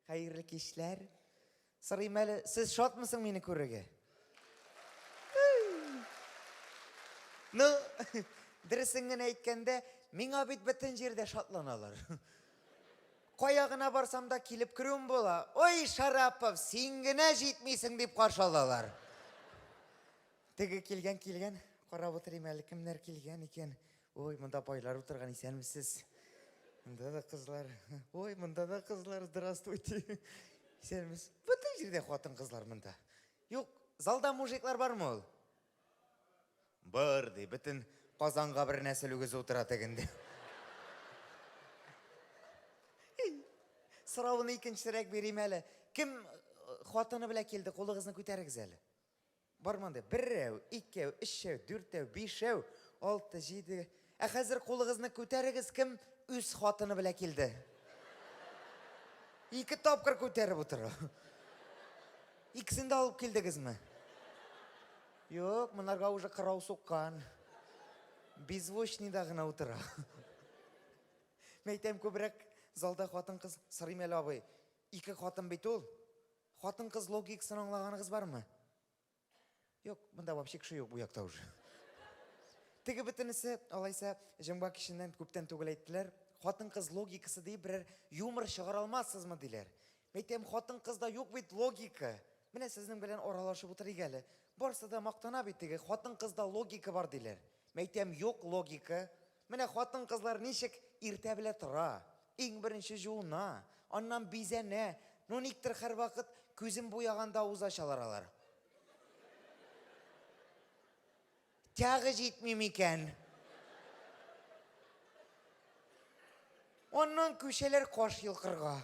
Хәерле кичләр. Сырыйм әле, сез шатмысың мине күрергә? Ну, дөресен генә әйткәндә, миңа бит бөтен җирдә шатланалар. Кая гына барсам да килеп керүем була. Ой, Шарапов, син генә җитмисең дип каршы алалар. Теге килгән килгән, карап утырыйм әле кемнәр килгән икән. Ой, монда байлар утырган, исәнмесез. Монда да кызлар. Ой, монда да кызлар, здравствуйте. Исәнмесез. Бөтен җирдә хатын-кызлар монда. Юк, залда мужиклар бармы ул? Бар, ди, бөтен Казанга бер нәсел үгез утыра тегендә. Соравын икенчерәк бирим әле. Кем э, хатыны белән килде, кулыгызны күтәрегез әле. Бар мондый, беррәү, икәү, өчәү, дүртәү, бишәү, алты, җиде. Ә хәзер кулыгызны күтәрегез, кем үз хатыны белән килде? Ике тапкыр күтәреп утыру. Икесен дә алып килдегезме? Юк, монарга уже кырау суккан. Беззвучныйда гына утыра. Мәйтәм, күбрәк залда хатын-кыз сорыйм әле, абый. Ике хатын бит ул. Хатын-кыз логикасын аңлаганыгыз бармы? Юк, монда вообще кеше юк бу якта уже. Теге бөтенесе, алайса, җомга киченнән күптән түгел әйттеләр, хатын-кыз логикасы диеп берәр юмор чыгара алмассызмы, диләр. Мин әйтәм, хатын-кызда юк бит логика. Менә сезнең белән аралашып утырыйк әле. Барсы да мактана бит теге, хатын-кызда логика бар, диләр. Мин әйтәм, юк логика. Менә хатын-кызлар ничек иртә белә тора, иң беренче җуына, аннан бизәнә, ну никтер хәрвакыт күзен буяганда авыз ачалар алар. Тягы җитми микән? Аннан күчәләр каш йолкырга.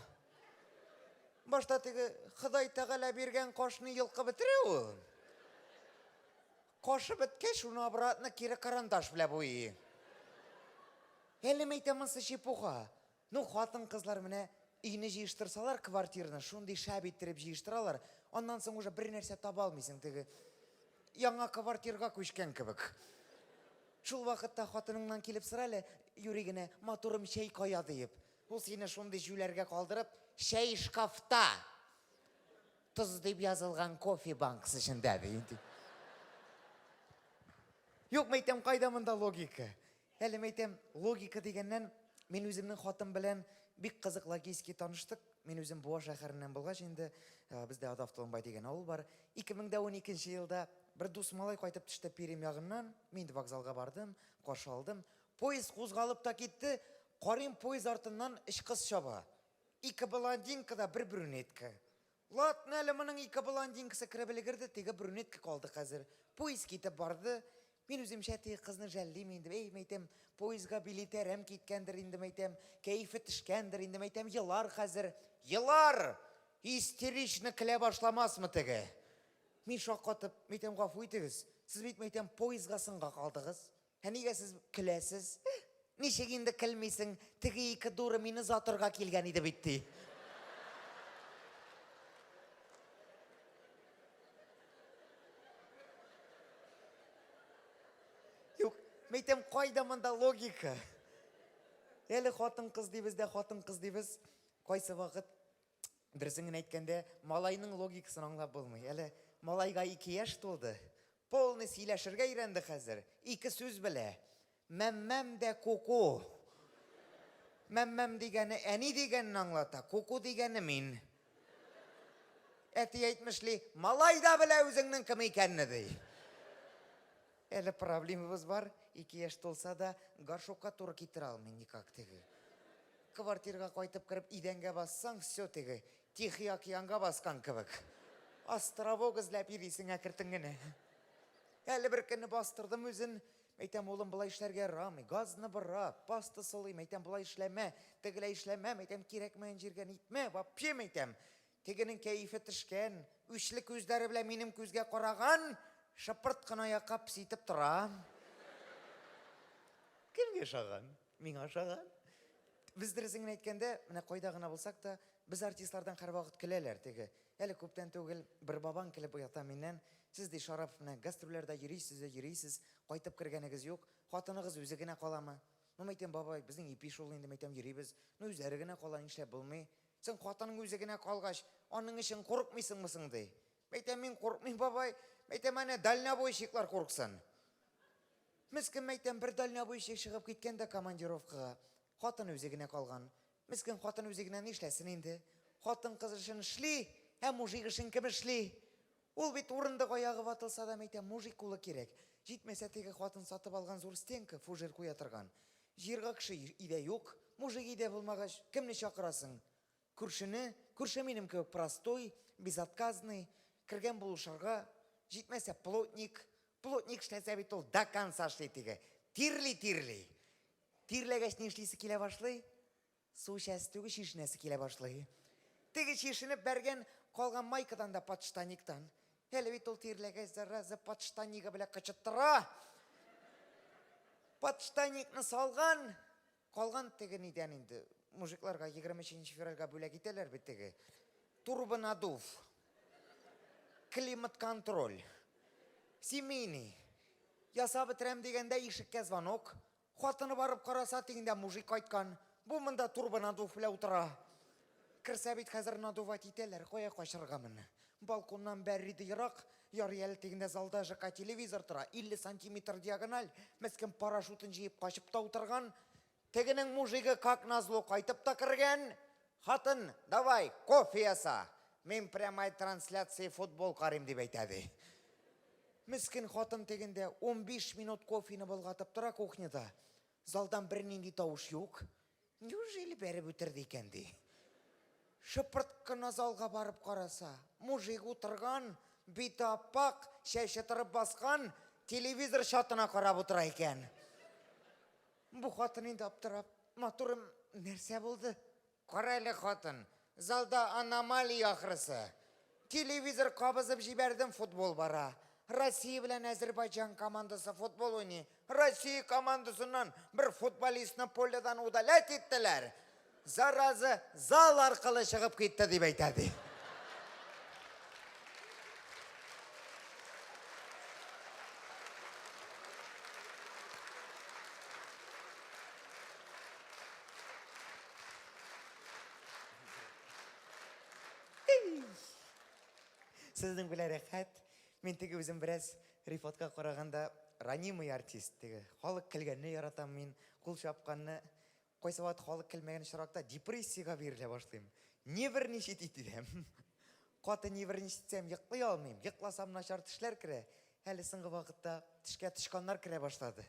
Башта теге Ходай Тәгалә биргән кашны йолкып бетерә ул. Кашы беткәч, шуны обратно кире карандаш белә буйый. Әле мәйтә монсы чепуха. Ну, хатын-кызлар менә өйне җыештырсалар, квартирны шундый шәп иттереп җыештыралар, аннан соң уже бер нәрсә таба алмыйсың, теге яңа квартирга күчкән кебек. Шул вакытта хатыныңнан килеп сора әле, юри генә, матурым, чәй кая, диеп. Ул сине шундый җүләргә калдырып, чәй шкафта! Тоз дип язылган кофе банкасы эчендә ди. Юк, мәйтәм, кайда монда логика? Әле мәйтәм, логика дигәннән, мин үземнең хатын белән бик кызык логически таныштык. Мин үзем Буа шәһәреннән булгач инде, э, бездә Адав Толымбай дигән авыл бар. 2012 елда бер дус малай кайтып төште Перим ягыннан. Мин вокзалга бардым, каршы алдым. Поезд кузгалып та китте. Карыйм, поезд артыннан өч кыз чаба. Ике блондинка да бер брюнетка. Латны әле моның ике блондинкасы кереп өлгерде, теге брюнетка калды хәзер. Поезд китеп барды. Мин үземчә теге кызны жәллим инде. Әй, мәйтәм, поездга билеты әрәм киткәндер инде, мәйтәм, кәефе төшкәндер инде, мәйтәм, елар хәзер. Елар! Истерично көлә башламасмы теге? Мин шаккатып, мәйтәм, гафу итегез, сез бит, мәйтәм, поездга сынга калдыгыз. Ә нигә сез көләсез? Ничек инде көлмисең? Теге ике дуры мине затырга килгән иде бит, ди. Юк, мәйтәм, кайда монда логика? Әле хатын-кыз дибез дә хатын-кыз дибез. Кайсы вакыт дөресен генә әйткәндә, малайның логикасын аңлап булмый. Әле малайга ике яшь тулды, Полный сөйләшергә өйрәнде хәзер, ике сүз белә. Мәммәм дә куку. Мәммәм дигәне әни дигәнне аңлата, куку дигәне мин. Әти әйтмешли, малай да белә үзеңнең кем икәнне, ди. Әле проблемабыз бар, ике яшь тулса да, горшокка туры китерә алмый никак теге. Квартирга кайтып кереп, идәнгә бассаң, все теге, Тихий океанга баскан кебек. Островок эзләп йөрисең әкертен генә. Әле бер көнне бастырдым үзен. Мәйтәм, улым, болай эшләргә ярамый. Газны бырак, паста сылый, мәйтәм, болай эшләмә, тегеләй эшләмә, мәйтәм, кирәкмәгән җиргә нитмә, вообще, мәйтәм. Тегенең кәефе төшкән, үчле күзләре белән минем күзгә караган, шыпырт кына аякка пситеп тора. Кемгә ошаган? Миңа ошаган. Без дөресен генә әйткәндә, менә кайда гына булсак та, без артистлардан һәрвакыт көләләр. Теге, әле күптән түгел, бер бабаң килеп уята миннән, Сез, ди, Шараф, менә гастрольләрдә йөрисез дә йөрисез, кайтып кергәнегез юк, хатыныгыз үзе генә каламы? Ну, мәйтәм, бабай, безнең ипи шул инде, мәйтәм, йөрибез. Ну, үзләре генә кала, нишләп булмый? Соң хатының үзе генә калгач, аның өчен курыкмыйсыңмы соң, ди? Мәйтәм, мин курыкмыйм, бабай. Мәйтәм, әнә дальнобойщиклар курыксын. Мескен мәйтәм, бер дальнобойщик чыгып киткән дә командировкага. Хатын үзе генә калган. Мескен хатын үзе генә нишләсен инде? Хатын кыз эшен эшли, ә мужик эшен кем эшли? Ул бит урындык аягы ватылса да, мәйтәм, мужик кулы кирәк. Җитмәсә, теге хатын сатып алган зур стенка, фужер куя торган. Җыерга кеше өйдә юк. Мужик өйдә булмагач, кемне чакырасың? Күршене, күрше минем кебек простой, безотказный, кергән булышырга, җитмәсә плотник, плотник эшләсә бит ул до конца эшли теге, тирли, тирли. Тирләгәч ни эшлисе килә башлый? Су эчәсе түгел, чишенәсе килә башлый. Теге чишенеп бәргән, калган майкадан да подштаниктан. Әле бит ул тирләгәч зараза подштанигы белән кычыттыра. Подштаникны салган, Калган теге нидән инде, мужикларга егерме өченче февральгә бүләк итәләр бит теге, турбонадув, климатконтроль, семейный, ясап бетерәм дигәндә ишеккә звонок, хатыны барып караса, тегендә мужик кайткан, бу монда турбонадув белән утыра. Керсә бит хәзер надувать итәләр, кая качырга моны. Балконнан бәрри дә ерак, ярый әле тегендә залда ЖК телевизор тора, 50 сантиметр диагональ, мескен парашютын җыеп качып та утырган. Тегенең мужигы как назло кайтып та кергән. Хатын, давай, кофе яса, мин прямай трансляция футбол карыйм, дип әйтә, ди. Мескен хатын тегендә унбиш минут кофены болгатып тора кухняда. Залдан бернинди тавыш юк. Неужели бәреп үтерде икән, ди. Шыпырт кына залга барып караса, мужик утырган, бите ап-ак, чәче торып баскан, телевизор чатына карап утыра икән. Бу хатын инде аптырап, Матурым, нәрсә булды? Кара әле, хатын, Залда аномалия ахрысы. Телевизор кабызып җибәрдем, футбол бара. Россия белән Әзербайҗан командасы футбол уйный. Россия командасыннан бер футболистны поледан удалять иттеләр. Зараза зал аркылы чыгып китте, дип әйтә, ди. Сезнең белән рәхәт. Мин теге үзем бераз рифатка караганда ранимый артист. Теге халык көлгәнне яратам мин, кул чапканны. Кайсы вакыт халык көлмәгән очракта депрессиягә бирелә башлыйм. Нервничать итәм. Каты нервничать итсәм, йоклый алмыйм. Йокласам, начар төшләр керә. Әле соңгы вакытта төшкә тычканнар керә башлады.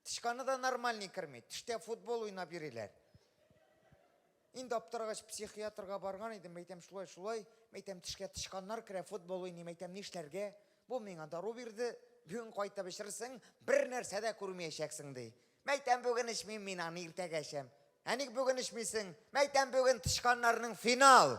Тычканы да нормальный керми. Төштә футбол уйнап йөриләр. Инде аптырагач психиатрга барган идем, мәйтәм шулай, шулай, мәйтәм тешкә тычканнар керә, футбол уйный, мәйтәм нишләргә? Бу миңа дару бирде, бүген кайтып эчерсең, бер нәрсә дә күрмәячәксең, ди. Мәйтәм бүген эчмим, мин аны иртәгә эчәм. Ә ник бүген эчмисең? Мәйтәм бүген тычканнарның финал.